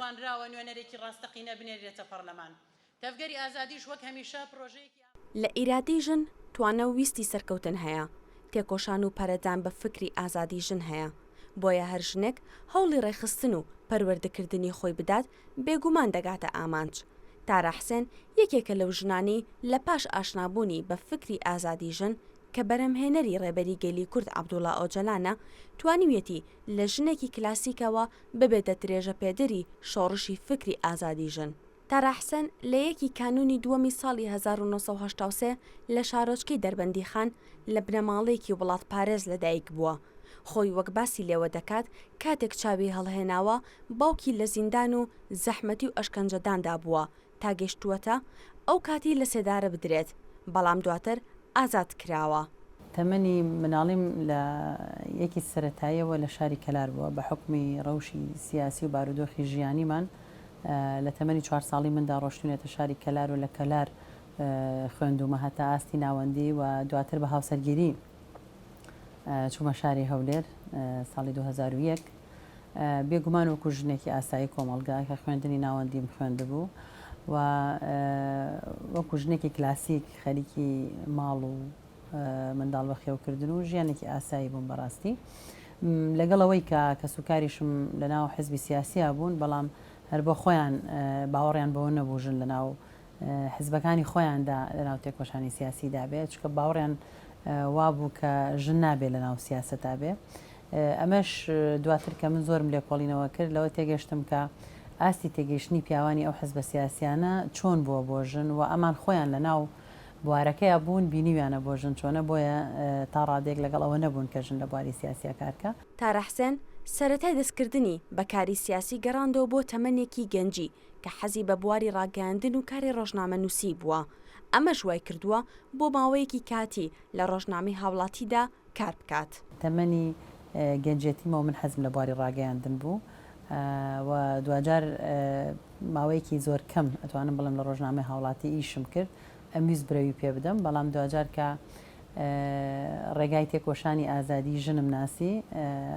توانراوە نوێنەرێکی ڕاستەقینە بنێررێتە پەڕلەمان. تەڤگەری ئازادیش وەک هەمیشە پڕۆژەیەکی. لە ئیرادەی ژن توانا و ویستی سەرکەوتن هەیە، تێکۆشان و پەرەدان بە فکری ئازادی ژن هەیە، بۆیە هەر ژنێک هەوڵی ڕێکخستن و پەروەردەکردنی خۆی بدات بێگومان دەگاتە ئامانج. تارا حسێن یەکێکە لەو ژنانەی لە پاش ئاشنابوونی بە فکری ئازادی ژن کە بەرهەمهێنەری ڕێبەری گەلی کورد عەبدوڵا ئۆجەلانە توانیویەتی لە ژنێکی کلاسیکەوە ببێتە درێژەپێدەری شۆڕشی فکری ئازادی ژن. تارا حسێن لە یەکی کانوونی دووەمی ساڵی هەزار و نۆ سەد و هەشتا و سێ لە شارۆچکەی دەربەندیخان لە بنەماڵەیەکی وڵاتپارێز لەدایکبووە، خۆی وەک باسی لێوە دەکات کاتێک چاوی هەڵهێناوە باوکی لە زیندان و زەحمەتی و ئەشکەنجەداندا بووە، تا گەشتووەتە ئەو کاتی لە سێدارە بدرێت، بەڵام دواتر ئازاد کراوە. تەمەنی مناڵیم لە یەکی سەرەتاییەوە لە شاری کەلار بووە، بە حوکمی ڕەوشی سیاسی و بارودۆخی ژیانیمان لە تەمەنی چوار ساڵی مندا ڕۆشتوینەتە شاری کەلار و لە کەلار خوێندوومە هەتا ئاستی ناوەندی و دواتر بە هاوسەرگیری چوومە شاری هەولێر ساڵی 2001 بێگومان وەکو ژنێکی ئاسایی کۆمەلگا کە خوێندنی ناوەندیم خوێندبوو و وەکو ژنێکی کلاسیک خەریکی ماڵ و منداڵ بە خێوکردن و ژیانێکی ئاسایی بووم بەڕاستی لەگەڵ ئەوەی کە کە سوکاریشم لە ناو حزبی سیاسییا بوون بەڵام هەر بۆ خۆیان باوەڕیان بەوە نەبوو ژن لە ناو حزبەکانی خۆیاندا لەناو تێکۆشانی سیاسیدا بێ چونکە باوەڕیان وابوو کە ژن نابێ لەناو سیاسەتا بێ ئەمەش دواتر کە من زۆرم لێکۆڵینەوە کرد لەوە تێگەشتم کە ئاستی تێگەیشتنی پیاوانی ئەو حزبە سیاسیانە چۆن بووە بۆ ژن و ئەمان خۆیان لەناو بوارەکەیا بوون بینیویانە بۆ ژن چۆنە بۆیە تا ڕادەیەک لەگەڵ ئەوە نەبوون کە ژن لە بواری سیاسیا کارکە. تارا حسێن سەرەتای دەستکردنی بە کاری سیاسی گەڕاندەوە بۆ تەمەنێکی گەنجی کە حەزی بە بواری ڕاگەیاندن و کاری ڕۆژنامەنووسیی بووە، ئەمەش وای کردووە بۆ ماوەیەکی کاتی لە ڕۆژنامەی هاوڵاتیدا کار بکات. تەمەنی گەنجێتیمە و من حەزم لە بواری ڕاگەیاندن بوو و دواجار ماوەیەکی زۆر کەم ئەتوانم بڵێم لە ڕۆژنامەی هاوڵاتی ئیشم کرد، ئەمویست برەوی پێ بدەم، بەڵام دواجار کە ڕێگای تێکۆشانی ئازادیی ژنم ناسی،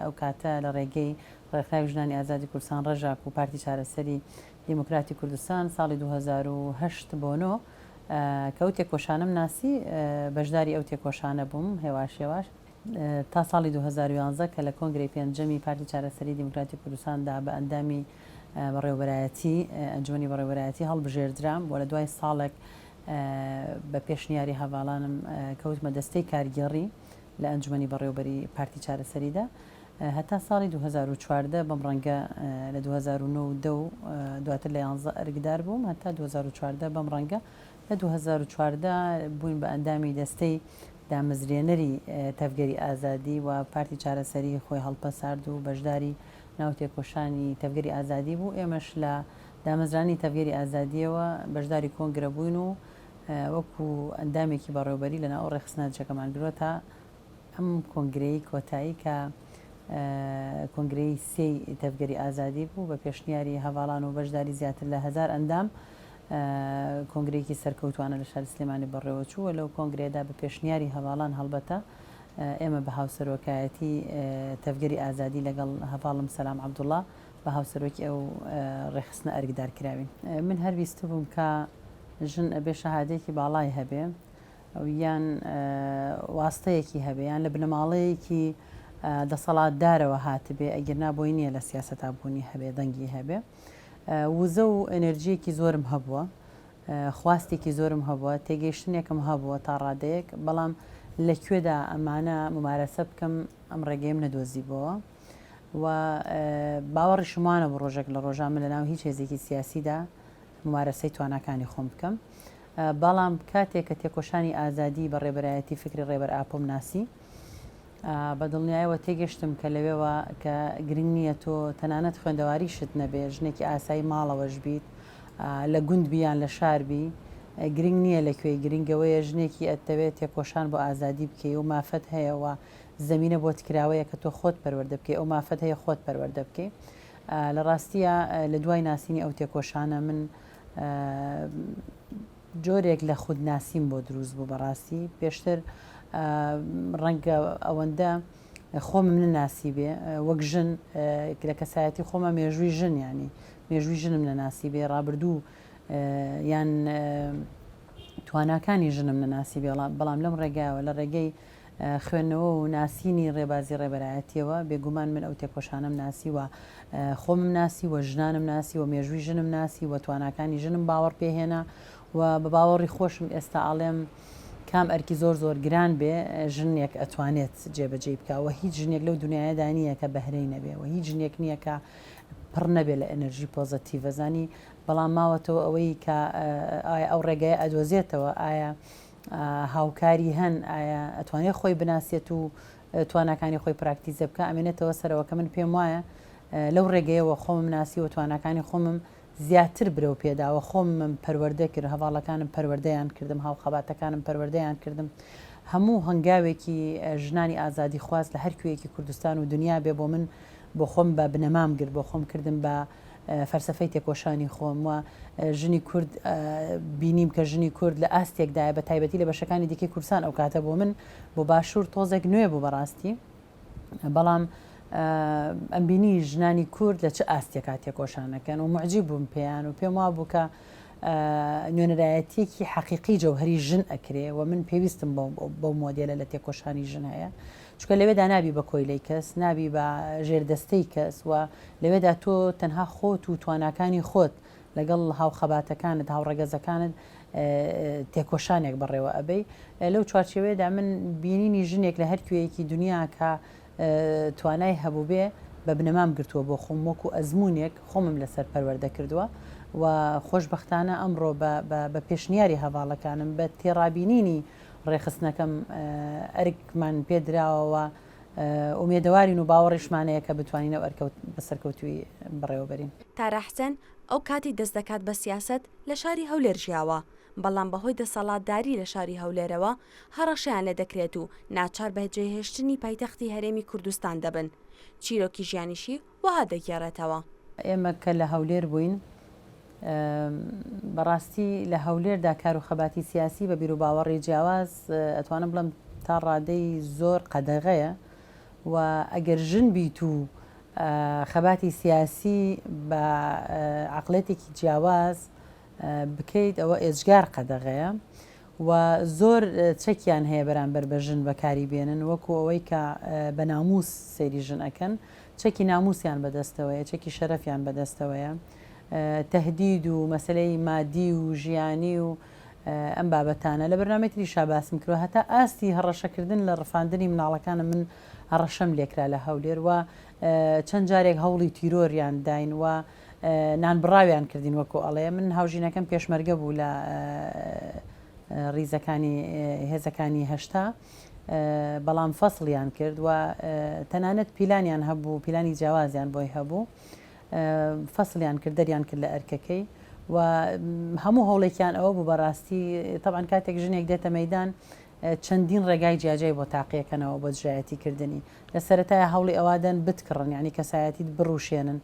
ئەو کاتە لە ڕێگەی ڕێکخراوی ژنانی ئازادی کوردستان، ڕەژاک، و پارتی چارەسەری دیموکراتی کوردستان، ساڵی دوو هەزار و هەشت بۆ نۆ، کە ئەو تێکۆشانەم ناسی، بەشداری ئەو تێکۆشانە بووم، هێواش هێواش تا ساڵی دوو هەزار و یازدە کە لە کۆنگرەی پێنجەمی پارتی چارەسەری دیموکراتی کوردستان دا بە ئەندامی بەڕێوەبەرایەتی، ئەنجومەنی بەڕێوەبەرایەتی، هەڵبژێردرام و لە دوای ساڵێک بە پێشنیاری هەڤاڵانم کەوتمە دەستەی کارگێڕی لە ئەنجومەنی بەڕێوەبەریی پارتی چارەسەری دا. هەتا ساڵی دوو هەزار و چواردە بەم ڕەنگە لە دوو هەزار و نۆ و دە و دواتر لە یانزە ئەرکدار بووم هەتا دوو هەزار و چواردە بەم ڕەنگە لە دوو هەزار و چواردە بووین بە ئەندامی دەستەی دامەزرێنەری تەڤگەری ئازادی و پارتی چارەسەری خۆی هەڵپەسارد و بەشداری ناو تێکۆشانی تەڤگەری ئازادی بوو ئێمەش لە دامەزرانی تەڤگەری ئازادیەوە بەشداری کۆنگرە بووین و وەکو ئەندامێکی بەڕێوبەری لە ناو ڕێخستنە چەکەمان گرۆتە ئەم کۆنگرەی کۆتایی کە کۆنگرەی سێی تەڤگەری ئازادی بوو، بە پێشنیاری هەڤاڵان و بەشداری زیاتر لە هەزار ئەندام، کۆنگرەیەکی سەرکەوتوانە لە شاری سلێمانی بەڕێوەچوو و لەو کۆنگرەیەدا بە پێشنیاری هەڤاڵان هەڵبەتە ئێمە بە هاوسەرۆکایەتی تەڤگەری ئازادی لەگەڵ هەڤاڵم سەلام عەبدوڵا بە هاوسەرۆکی ئەو ڕێکخستنە ئەرکدار کراوین. من هەر ویستبووم کە ژن ئەبێ شەهادەیەکی باڵای هەبێ، یان واستەیەکی هەبێ یان لە بنەماڵەیەکی دەسەڵات دارەوە هاتبێ ئەگیرنا بۆی نیە لە سیاسەتا بوونی هەبێ دەنگی هەبێ وزە و ئەنرجیەکی زۆرم هەبووە خواستێکی زۆرم هەبووە تێگەیشتنێکم هەبووە تا ڕادەیەک بەڵام لە کوێدا ئەمانە ممارەسە بکەم ئەم ڕێگەیم نەدۆزی بۆوە و باوەڕی شمانە بۆ ڕۆژێک لە ڕۆژان من لە ناو هیچ هێزێکی سیاسیدا ممارەسەی تواناکانی خۆم بکەم بەڵام کاتێک کە تێکۆشانی ئازادیی بە ڕێبەرایەتی فیکری ڕێبەر ئاپۆم ناسی، بە دڵنیایەوە تێگەشتم کە لەوێوە کە گرنگ نییە تۆ تەنانەت خوێندەواریشت نەبێ، ژنێکی ئاسایی ماڵەوەش بیت، لە گوند بی یان لە شار بی، گرنگ نییە لە کوێی، گرنگ ئەوەیە ژنێکی ئەتەوێ تێکۆشان بۆ ئازادی بکەی و مافت هەیە و زەمینە بۆت کراوەیە کە تۆ خۆت پەروەردە بکەی، ئەو مافت هەیە خۆت پەروەردە بکەی. لە ڕاستییا لە دوای ناسینی ئەو تێکۆشانە من، جۆرێک لە خودناسیم بۆ دروست بوو بەڕاستی پێشتر ڕەنگە ئەوەندە خۆمم نەناسی بێ وەک ژن لە کەسایەتی خۆمە مێژووی ژن ینی مێژووی ژنم نەناسی بێ ڕابردوو یان تواناکانی ژنم نەناسی بێڵام بەڵام لەم ڕێگایەوە لە ڕێگەی خوێندنەوە و ناسینی ڕێبازی ڕێبەرایەتییەوە، بێگومان من ئەو تێکۆشانەم ناسی و خۆمم ناسی و ژنانم ناسی و مێژووی ژنم ناسی و تواناکانی ژنم باوەڕ پێ هێنا و بە باوەڕی خۆشم ئێستا ئەڵێم کام ئەرکی زۆر زۆر گران بێ ژنێک ئەتوانێت جێبەجێی بکا و هیچ ژنێک لەو دنیایەدا نییە کە بەهرەی نەبێ و هیچ ژنێک نییە کە پڕ نەبێ لە ئەنەرژی پۆزەتیڤەزانی بەڵام ماوەتەوە ئەوەی کە ئایا ئەو ڕێگای ئەدۆزێتەوە ئایا هاوکاری هەن ئایا ئەتوانێت خۆی بناسێت و تواناکانی خۆی پراکتیزە بکە ئەمێنێتەوە سەرەوە کە من پێم وایە لەو ڕێگەیەوە خۆمم ناسی و تواناکانی خۆمم زیاتر برەو پێداوە خۆمم پەروەردە کرد هەواڵەکانم پەروەردەیان کردم هاوخەباتەکانم پەروەردەیان کردم هەموو هەنگاوێکی ژنانی ئازادی خواست لە هەرکوێیەکی کوردستان و دنیا بێ بۆ من بۆ خۆم بە بنەمام گرت بۆ خۆم کردم بە فەلسەفەی تێکۆشانی خۆم و ژنی کورد بینیم کە ژنی کورد لە ئاستێکدایە بە تایبەتی لە بەشەکانی دیکەی کوردستان ئەو کاتە بۆ من بۆ باشوور تۆزێک نوێ بوو بەڕاستی بەڵام ئەم بینی ژنانی کورد لە چ ئاستێکا تێکۆشانەکەن و معجی بووم پێیان و پێم وا بوو کە نوێنەرایەتیەکی حەقیقی جەوهری ژن ئەکرێ و من پێویستم بەو مۆدیلە لە تێکۆشانی ژن هەیە چونکە لەوێدا نابی بە کۆیلەی کەس، نابی بە ژێردەستەی کەس و لەوێدا تۆ تەنها خۆت و تواناکانی خۆت لەگەڵ هاوخەباتەکانت، هاوڕەگەزەکانت تێکۆشانێک بەڕێوە ئەبەی. لەو چوارچێوەیەدا من بینینی ژنێک لە هەر کوێیەکی دنیا کە توانای هەبووبێ بە بنەمام گرتووە بۆ خۆم وەکو ئەزمونێک خۆمم لەسەر پەروەردە کردووە و خۆشبەختانە ئەمڕۆ بە پێشنیاری هەڤاڵەکانم بە تێڕابینینی ڕێکخستنەکەم ئەرکمان پێ دراوە و ئومێدەوارین و باوەڕیشمان هەیە کە بتوانین ئەو ئەرکە بە سەرکەوتوویی بەڕێوەبەرین. تارا حسێن، ئەو کاتی دەست دەکات بە سیاسەت لە شاری هەولێر ژیاوە، بەڵام بەهۆی دەسەڵاتداری لە شاری هەولێرەوە هەڕەشەیان لێ دەکرێت و ناچار بە جێهێشتنی پایتەختی هەرێمی کوردستان دەبن، چیرۆکی ژیانیشی وەها دەگێڕێتەوە. ئێمە کە لە هەولێر بووین بەڕاستی لە هەولێردا کار و خەباتی سیاسی بە بیروباوەڕی جیاواز ئەتوانم بڵێم تا ڕادەی زۆر قەدەغەیە و ئەگەر ژن بیت و خەباتی سیاسی بە عقلێتێکی جیاواز بکەیت ئەوە ئێجگار قەدەغەیە و زۆر چەکیان هەیە بەرامبەر بە ژن بەکاری بێنن وەکو ئەوەی کە بە ناموس سەیری ژن ئەکەن چەکی ناموسیان بەدەستەوەیە چەکی شەرەفیان بەدەستەوەیە تەهدید و مەسەلەی مادی و ژیانی و ئەم بابەتانە لە بەرنامەی تریشا باسم کرد هەتا ئاستی هەڕەشەکردن لە ڕفاندنی مناڵەکانە من هەڕەشەم لێکرا لە هەولێر و چەند جارێک هەوڵی تیرۆریان داین و نانبڕاویان کردین وەکو ئەڵێ من هاوژینەکەم پێشمەرگە بوو لە ریزەکانی هێزەکانی هەشتا بەڵام فەسڵیان کرد و تەنانەت پیلانیان هەبوو پیلانی جیاوازیان بۆی هەبوو فەسلیان کرد دەریان کرد لە ئەرکەکەی و هەموو هەوڵێکیان ئەوە بوو بەڕاستی تەبان کاتێک ژنێک دێتە مەدان چەندین ڕێگای جیاجیای بۆ تاقیەکەنەوە بۆ دژایەتی کردنی، لە سەرەتایا هەوڵی ئەوە دەن بتکڕن یانی کەسایەتیت بڕوشێنن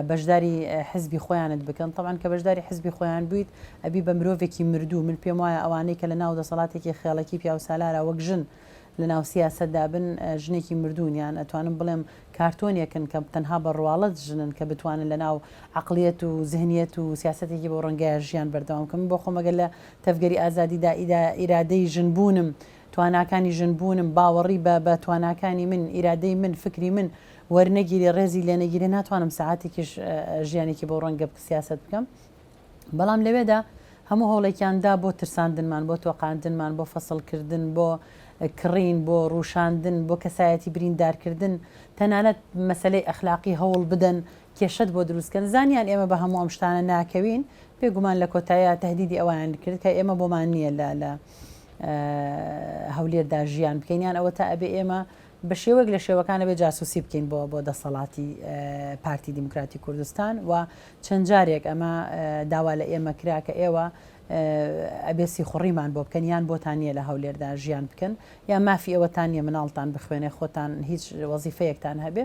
بەشداری حزبی خۆیانت بکەن تەبعەن کە بەشداری حزبی خۆیان بویت ئەبی بە مرۆڤێکی مردوو من پێم وایە ئەوانەی کە لە ناو دەسەڵاتێکی خێڵەکی پیاوسالارا وەک ژن لە ناو سیاسەتدا بن ژنێکی مردوون یان ئەتوانم بڵێم کارتۆنێکن کە تەنها بە ڕواڵەت ژنن کە بتوانن لە ناو عقلیەت و زهنیەت و سیاسەتێکی بۆ ڕەنگەیە ژیان بەردەوام کە من بۆ خۆمەگە لە تەڤگەری ئازادی دا، ئیرادەی ژن بوونم، تواناکانی ژن بوونم، باوەڕی بە بە تواناکانی من، ئیرادەی من، فکری من وەرنەگیرێ، ڕێزی لێ نەگیرێ، ناتوانم سەعاتێکیش ژیانێکی بەو ڕەنگە بک سیاسەت بکەم. بەڵام لەوێدا هەموو هەوڵێکیان دا بۆ ترساندنمان، بۆ تۆقاندنمان، بۆ فەسڵ کردن، بۆ کڕین، بۆ ڕووشاندن، بۆ کەسایەتی بریندار کردن، تەنانەت مەسەلەی ئەخلاقی هەوڵ بدەن کێشەت بۆ دروست کەن زانیان ئێمە بە هەموو ئەم شتانە ناکەوین بێ گومان لە کۆتاییا تەهدیدی ئەوەیان کرد کە ئێمە بۆمان نییە لە لە هەولێردا ژیان بکەین یان ئەوەتا ئەبێ ئێمە بە شێوەک لە شێوەکان ئەبێ جاسوسی بکەین بۆ بۆ دەسەڵاتی پارتی دیموکراتی کوردستان و چەند جارێک ئەمە داوا لە ئێمە کرا کە ئێوە ئەبێ سیخوڕیمان بۆ بکەن یان بۆتان نییە لە هەولێردا ژیان بکەن یا مافی ئەوەتان نیە مناڵتان بخوێنێ خۆتان هیچ وەزیفەیەکتان هەبێ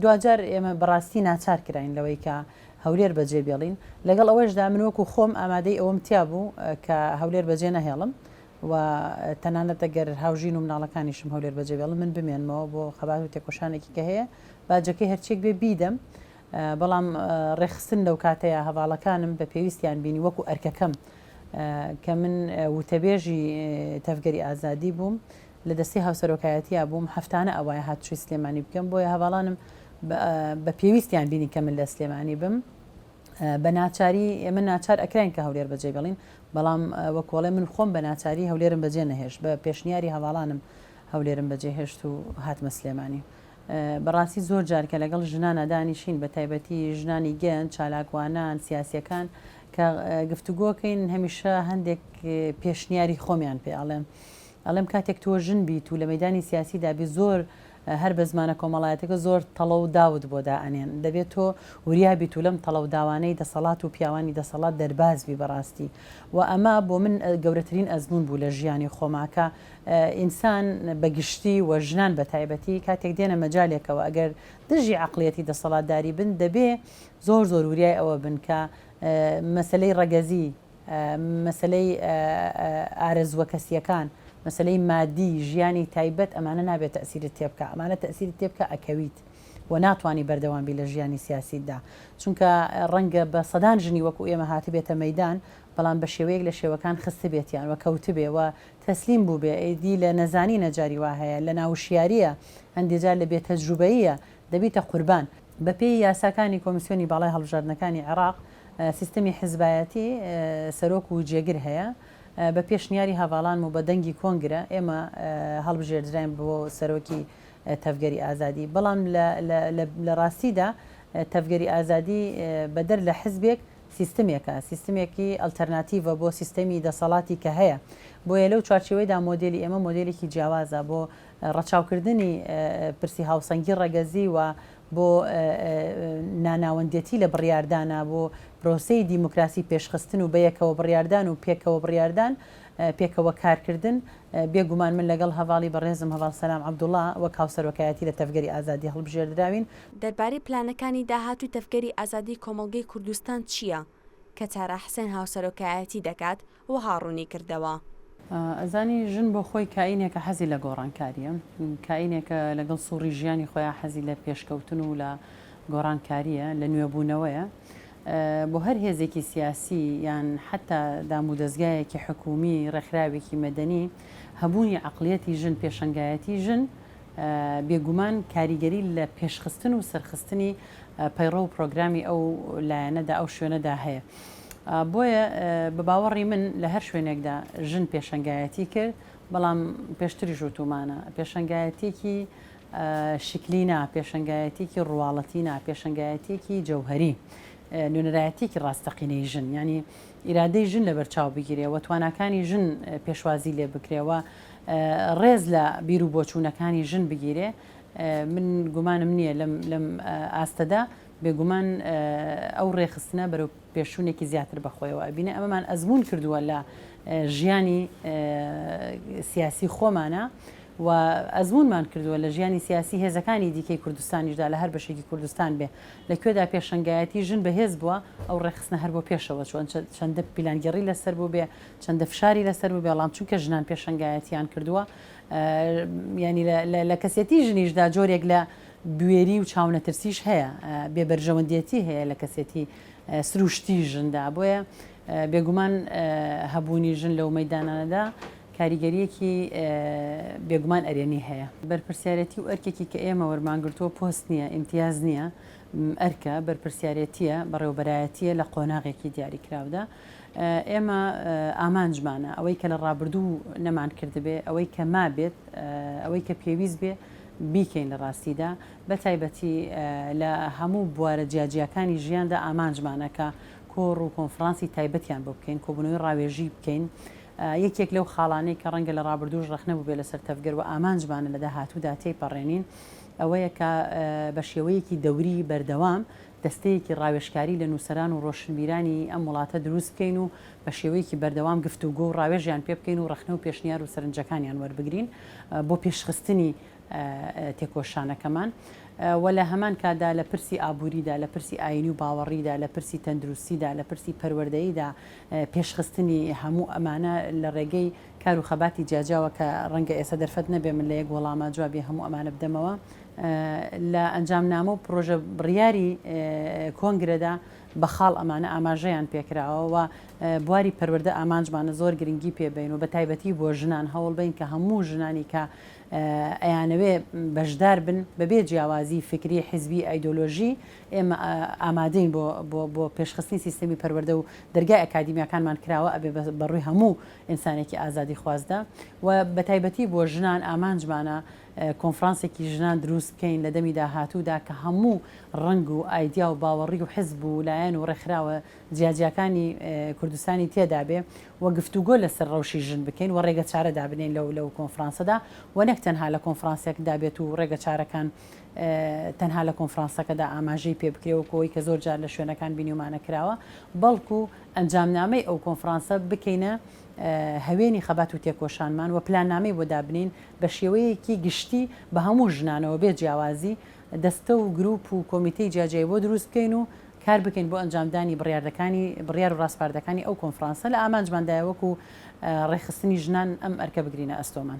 دواجار ئێمە بەڕاستی ناچار کراین لەوەی کە هەولێر بەجێ بێڵین، لەگەڵ ئەوەشدا من وەکو خۆم ئامادەی ئەوەم تیا بوو کە هەولێر بەجێ نەهێڵم و تەنانەت ئەگەر هاوژین و مناڵەکانیشم هەولێر بەجێ بێڵن من بمێنمەوە بۆ خەبات و تێکۆشانێکی کە هەیە باجەکەی هەرچیەک بێ بیدەم، بەڵام ڕێکخستن لەو کاتەیە هەڤاڵەکانم بە پێویستیان بینی وەکو ئەرکەکەم کە من وتەبێژی تەڤگەری ئازادی بووم لە دەستەی هاوسەرۆکایەتیا بووم هەفتانە ئەوایە هاتوچۆی سلێمانی بکەم بۆیە هەڤاڵانم بە پێویستیان بینی کە من لە سلێمانی بم بە ناچاری ئێمە ناچار ئەکراین کە هەولێر بەجێ بڵین بەڵام وەکۆڵێ من خۆم بە ناچاری هەولێرم بەجێ نەهێشت بە پێشنیاری هەواڵانم هەولێرم بەجێ هێشت و هاتمە سلێمانی بەڕاستی زۆر جار کە لەگەڵ ژنانە دانیشین بە تایبەتی ژنانی گەن چالاکوانان سیاسەکان کە گفتوگۆکەین هەمیشە هەندێک پێشنیاری خۆمیان پێ ئاڵێن ئەڵێم کاتێک تۆ ژن بیت و لە مەیدانی سیاسیدا بیت زۆر هەر بە زمانە کۆمەڵایەتیەکە زۆر تەڵە و داوت بۆ دا ئەنێن دەبێت تۆ وریا بیت و لەم تەڵە و داوانەی دەسەڵات و پیاوانی دەسەڵات دەرباز بی بەڕاستی و ئەمە بۆ من گەورەترین ئەزموون بوو لە ژیانی خۆما کە ئینسان بە گشتی و ژنان بە تایبەتی کاتێک دێنە مەجالێکەوە ئەگەر دژی عەقڵیەتی دەسەڵاتداری بن دەبێ زۆر زۆر وریای ئەوە بن کە مەسەلەی ڕەگەزی مەسەلەی ئارەزووە کەسییەکان، مەسەلەی مادی، ژیانی تایبەت ئەمانە نابێ تەئسیرت تێ بکا، ئەمانە تەئسیرت تێ بکا ئەکەویت و ناتوانی بەردەوام بی لە ژیانی سیاسیتدا، چونکە ڕەنگە بە سەدان ژنی وەکو ئێمە هاتبێتە مەیدان، بەڵام بە شێوەیەک لە شێوەکان خستبێتیان و کەوتبێ و تەسلیم بووبێ، ئیدی لە نەزانینە جاری وا هەیە، لە ناوشیارییە، هەندێ جار لە بێ تەجروبەییە دەبیتە قوربان. بەپێی یاساکانی کۆمیسیۆنی باڵای هەڵبژاردنەکانی عێراق، سیستمی حزبایەتی سەرۆک و جێگر هەیە، بە پێشنیاری هەڤاڵان و بە دەنگی کۆنگرە ئێمە هەڵبژێردراین بۆ سەرۆکی تەڤگەری ئازادی، بەڵام لە ڕاستیدا تەڤگەری ئازادی بەدەر لە حزبێک سیستمێکە، سیستمێکی ئەلتەرناتیڤە بۆ سیستمی دەسەڵاتی کە هەیە، بۆیە لەو چوارچێوەیدا مۆدێلی ئێمە مۆدێلێکی جیاوازە بۆ ڕەچاوکردنی پرسی هاوسەنگی ڕەگەزی و بۆ ناناوەندێتی لە بڕیاردانا بۆ پرۆسەی دیموکراسی پێشخستن و بەیەکەوە بڕیاردان و پێکەوە بڕیاردان پێکەوە کارکردن بێ گومان من لەگەڵ هەڤاڵی بەڕێزم هەڤاڵ سەلام عەبدوڵا وەک هاوسەرۆکایەتی لە تەڤگەری ئازادی هەڵبژێردراوین. دەربارەی پلانەکانی داهاتووی تەڤگەری ئازادی کۆمەڵگەی کوردستان چییە کە تارا حسێن هاوسەرۆکایەتی دەکات؟ وەها ڕوونی کردەوە. ئەزانی ژن بۆ خۆی کائینێکە حەزی لە گۆڕانکارییە، کائینێکە لەگەڵ سوڕی ژیانی خۆیا حەزی لە پێشکەوتن و لە گۆڕانکارییە، لە نوێبوونەوەیە. بۆ هەر هێزێکی سیاسی یان حەتتا دامودەزگایەکی حکوومی، ڕێکخراوێکی مەدەنی، هەبوونی عەقڵیەتی ژن، پێشەنگایەتی ژن بێگومان کاریگەری لە پێشخستن و سەرخستنی پەیڕەو و پرۆگرامی ئەو لایەنەدا، ئەو شوێنەدا هەیە. بۆیە بە باوەڕی من لە هەر شوێنێکدا ژن پێشەنگایەتی کرد، بەڵام پێشتریش وتومانە، پێشەنگایەتیەکی شکلی نا، پێشەنگایەتیەکی ڕواڵەتی نا، پێشەنگایەتیەکی جەوهەری، نوێنەرایەتیەکی ڕاستەقینەی ژن، یانی ئیرادەی ژن لە بەرچاو بگیرێ و تواناکانی ژن پێشوازی لێ بکرێ و ڕێز لە بیر و بۆچوونەکانی ژن بگیرێ، من گومانم نییە لەم ئاستەدا بێگومان ئەو ڕێکخستنە بەرەو پێشچوونێکی زیاتر بەخۆیەوە ئەبینێ، ئەمەمان ئەزموون کردووە لە ژیانی سیاسی خۆمانا و ئەزموونمان کردووە لە ژیانی سیاسی هێزەکانی دیکەی کوردستانیشدا لە هەر بەشێکی کوردستان بێ لە کوێدا پێشەنگایەتی ژن بەهێز بووە ئەو ڕێکخستنە هەر بۆ پێشەوە چۆن چەندە پیلانگەڕی لەسەر بوو بێ چەندە فشاری لەسەر بوو بێڵام چونکە ژنان پێشەنگایەتیان کردووە ینی لە کەسێتی ژنیشدا جۆرێک لە بوێری و چاونەترسیش هەیە، بێ بەرژەوەندیەتی هەیە لە کەسێتی سروشتی ژندا، بۆیە بێگومان هەبوونی ژن لەو مەیدانانەدا کاریگەریەکی بێگومان ئەرێنی هەیە. بەرپرسیارێتی و ئەرکێکی کە ئێمە وەرمانگرتووە پۆست نییە، ئیمتیاز نییە، ئەرکە، بەرپرسیارێتییە، بەڕێوەبەرایەتییە لە قۆناغێکی دیاریکراودا. ئێمە ئامانجمانە ئەوەی کە لە ڕابردوو نەمانکردبێ، ئەوەی کە مابێت، ئەوەی کە پێویست بێ بیکەین لە ڕاستیدا، بە تایبەتی لە هەموو بوارە جیاجیاکانی ژیاندا ئامانجمانە کە کۆڕ و کۆنفڕانسی تایبەتیان بۆ بکەین، کۆبوونەوەی ڕاوێژی بکەین. یەکێک لەو خاڵانەی کە ڕەنگە لە ڕابردووش ڕەخنە بووبێ لەسەر تەڤگەر و ئامانجمانە لە داهاتوودا تێیپەڕێنین ئەوەیە کە بە شێوەیەکی دەوری بەردەوام دەستەیەکی ڕاوێژکاری لە نووسەران و ڕۆشنبیرانی ئەم وڵاتە دروست بکەین و بە شێوەیەکی بەردەوام گفتوگۆ و ڕاوێژیان پێ بکەین و ڕەخنە و پێشنیار و سەرنجەکانیان وەربگرین بۆ پێشخستنی تێکۆشانەکەمان و لە هەمان کاتدا لە پرسی ئابووریدا، لە پرسی ئایینی و باوەڕیدا، لە پرسی تەندروستیدا، لە پرسی پەروەردەییدا پێشخستنی هەموو ئەمانە لە ڕێگەی کار و خەباتی جیاجیاوە کە ڕەنگە ئێستا دەرفەت نەبێ من لە یەک وەڵاما جوابی هەموو ئەمانە بدەمەوە لە ئەنجامنامە و پڕۆژە بڕیاری کۆنگرەدا بە خاڵ ئەمانە ئاماژەیان پێکراوە و بواری پەروەردە ئامانجمانە زۆر گرنگی پێبین و بە تایبەتی بۆ ژنان هەوڵ بین کە هەموو ژنانی کە ئەیانەوێ بەشدار بن بەبێ جیاوازی فکری حیزبی ئایدۆلۆژی ئێمە ئامادەین بۆ بۆ بۆ پێشخستنی سیستەمی پەروەردە و دەرگای ئەکادیمیاکانمان کراوە ئەبێ بەڕووی هەموو ئینسانێکی ئازادیخوازدە و بەتایبەتی بۆ ژنان ئامانجمانە کۆنفرانسێکی ژنان دروست بکەین لە دەمی داهاتوودا کە هەموو ڕەنگ و ئایدیا و باوەڕی و حزب و لایەن و ڕێکخراوە جیاجیاکانی کوردستانی تێدابێ و گفتوگۆ لەسەر ڕەوشی ژن بکەین و ڕێگەچارە دابنێین لەو لەو کۆنفرانسەدا و نەک تەنها لە کۆنفرانسێکدا بێت و ڕێگەچارەکان تەنها لە کۆنفرانسەکەدا ئاماژەی پێ بکرێ وەکو ئەوەی کە زۆر جار لە شوێنەکان بینیومانە کراوە بەڵکو ئەنجامنامەی ئەو کۆنفرانسە بکەینە هەوێنی خەبات و تێکۆشانمان و پلاننامەی بۆ دابنێین بە شێوەیەکی گشتی بە هەموو ژنانەوە بێ جیاوازی، دەستە و گروپ و کۆمیتەی جیاجیای بۆ دروست بکەین و کار بکەین بۆ ئەنجامدانی بڕیاردەکانی بڕیار و ڕاسپاردەکانی ئەو کۆنفرانسە لە ئامانجماندایە وەکو ڕێکخستنی ژنان ئەم ئەرکە بگرینە ئەستۆمان.